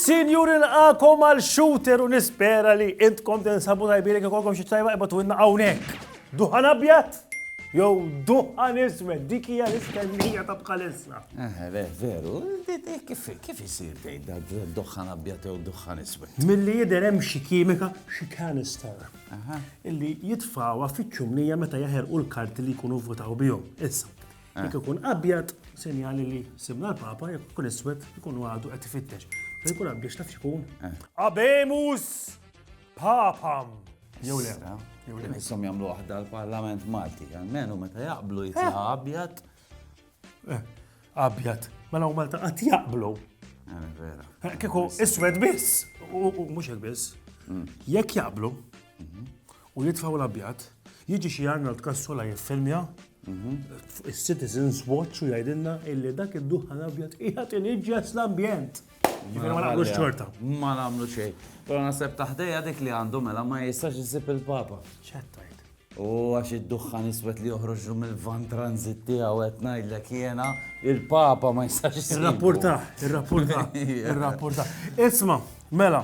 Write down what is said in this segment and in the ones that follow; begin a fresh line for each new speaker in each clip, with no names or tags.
Sinjur il-għakom għal shooter u nispera li intkom tinsabu tajbiri kif kolkom xi tajba ibatu inna hawnhekk. Duħan abjad jew duħan iswed, dik hija l-istennija ta' bħalissa. Eħe, le, veru,
kif isir tgħidha duħan abjad jew duħan iswed? Milli jidher hemm xi
kimika, xi canister, illi jitfawha fiċ-ċumnija meta jaħerqu l-karti li jkunu votaw bihom. Issa, eh. jekk ikun abjad, sinjali li simna l-papa, jekk ikun iswed, ikun għadu qed ifittex. Fejn ikun abjad x'taf x'ikun? Eh. Abemus! Papam! Jew le, eh? jew le. Nissom jagħmlu
waħda l-Parlament Malti, għalmenu meta jaqblu jitla' eh. abjad. Eh,
abjad. Mela u Malta qatt jaqblu. Eh,
Kiku iswed
biss, u mhux hekk biss. Mm. Jekk jaqblu mhm. u jitfaw l-abjad, jiġi xi Arnold Kassula jiffilmja mhm. Citizens Watch u jgħidilna illi dak id-duħan abjad qiegħed iniġġes l-ambjent. Jiġifieri ma naqblux xorta. Ma nagħmlu xejn.
Però naħseb taħdejja dik li għandu mela ma jistax isib il-Papa. Ċettajt.
U għax
id-duħħan iswed li joħroġ mill-van transit tiegħu qed ngħidlek jiena il-Papa ma jistax isib. Irrapporta, irrapporta,
irrapporta. Isma, mela,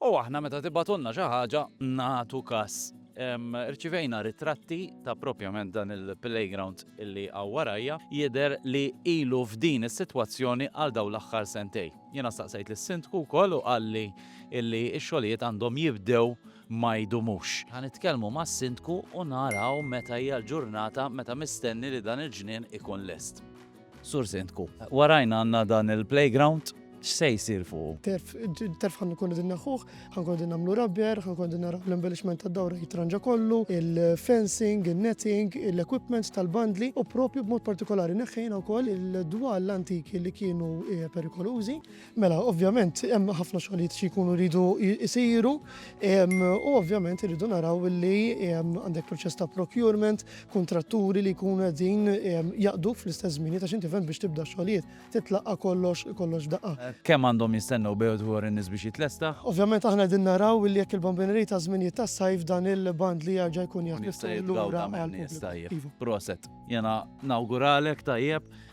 U aħna meta tibgħatulna xi ħaġa nagħtu kas. Irċivejna ritratti ta' propjament dan il-playground li hawn warajja. Jidher li ilu f'din is-sitwazzjoni għal dawn l-aħħar sentejn. Jiena staqsejt lis-Sindku wkoll u qalli li x-xogħlijiet għandhom jibdew ma jdumux. Ħa nitkellmu mas-Sindku u naraw meta hija l-ġurnata meta mistenni li dan il-ġnien ikun lest. Sur Sindku, warajna għandna dan il-playground, x'se jsir fuqu? Turf, it-turf ħa nkunu
qegħdin neħħuh, ħa nkunu qegħdin nagħmlu rabbier, ħa nkunu qegħdin naraw l-embellishment tad-dawra jitranġa kollu, il-fencing, in-netting, l-equipment tal-bandli u proprju b'mod partikolari neħħejna wkoll il-dwal antiki li kienu perikolużi. Mela, ovvjament, hemm ħafna xogħlijiet xi jkunu jridu jsiru u ovvjament irridu naraw li għandek proċess ta' procurement, kuntratturi li jkunu qegħdin jaqdu fl-istess żmien ta' xinti fem biex tibda xogħlijiet titlaqqa' kollox kollox daqqa. Kemm għandhom jistennew
bejgħu dwar in-nies biex jitlesta? Ovvjament aħna qegħdin naraw
li jekk il-bambinerie ta' żminijiet tas-sajf dan il-band li jerġa' jkun jaf jista' jitgawda minn nies tajjeb. Proset. Jiena
nawguralek tajjeb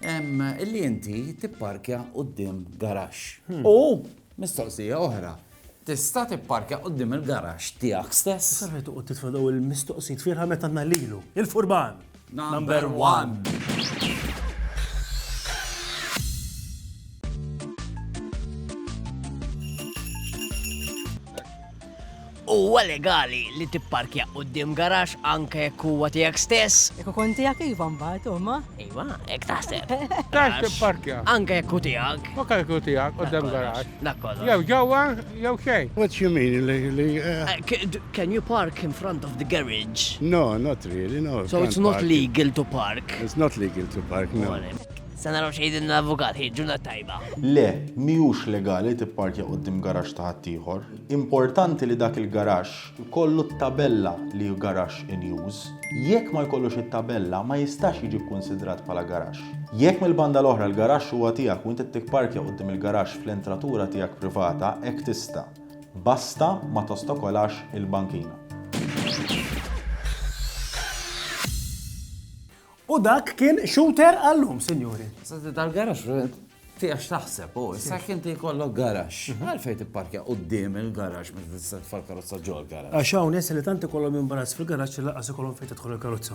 Illi inti tipparkja quddiem garaxx. Hmm. U mistoqsija oħra, tista' tipparkja quddiem il-garaxx tiegħek stess? Sarħet u titfa' daw
il-mistoqsijiet fierħa meta nalilu. Il-furban! Number
one!
Huwa legali li tipparkja quddiem garaxx anke jekk huwa tiegħek stess? Jekk ikun tiegħek iva
mbagħad huma. Iva, hekk
taħseb. Taf tipparkja.
Anke jekk hu tiegħek.
U kemm ikun tiegħek
quddiem garaxx. Dak kollox. Jew ġewwa jew xejn. What do you mean li
li
Can you park in front of the garage? No, not really,
no. So it's not legal
to park? It's not legal to
park, no. Se naraw
x'jgħidilna l-avukat, hi, ġurnata tajba. Le,
mhijiex legali tipparkja quddiem garaxx ta' ħaddieħor. Importanti li dak il-garaxx ikollu t-tabella li hu garaxx in use. Jekk ma jkollux it-tabella, ma jistax jiġi kkunsidrat bħala garaxx. Jekk mill-banda l-oħra l-garaxx huwa tiegħek u int qed tipparkja quddiem il-garaxx fl-entratura tiegħek privata, hekk tista'. Basta ma tostokolax il-bankina.
U dak kien shooter għallum, sinjuri. Senti tal-garax,
tieqa x'taħseb, u issa kien ti jkollok garax. Mhm. Għalfej tipparkja qudiem il-garax meta tista' tfal karozza ġol garax. Għax hawn nies li
tant ikollhom imbarazz fil-garax li laqas ikollhom fejn
tidħol
il-karozza.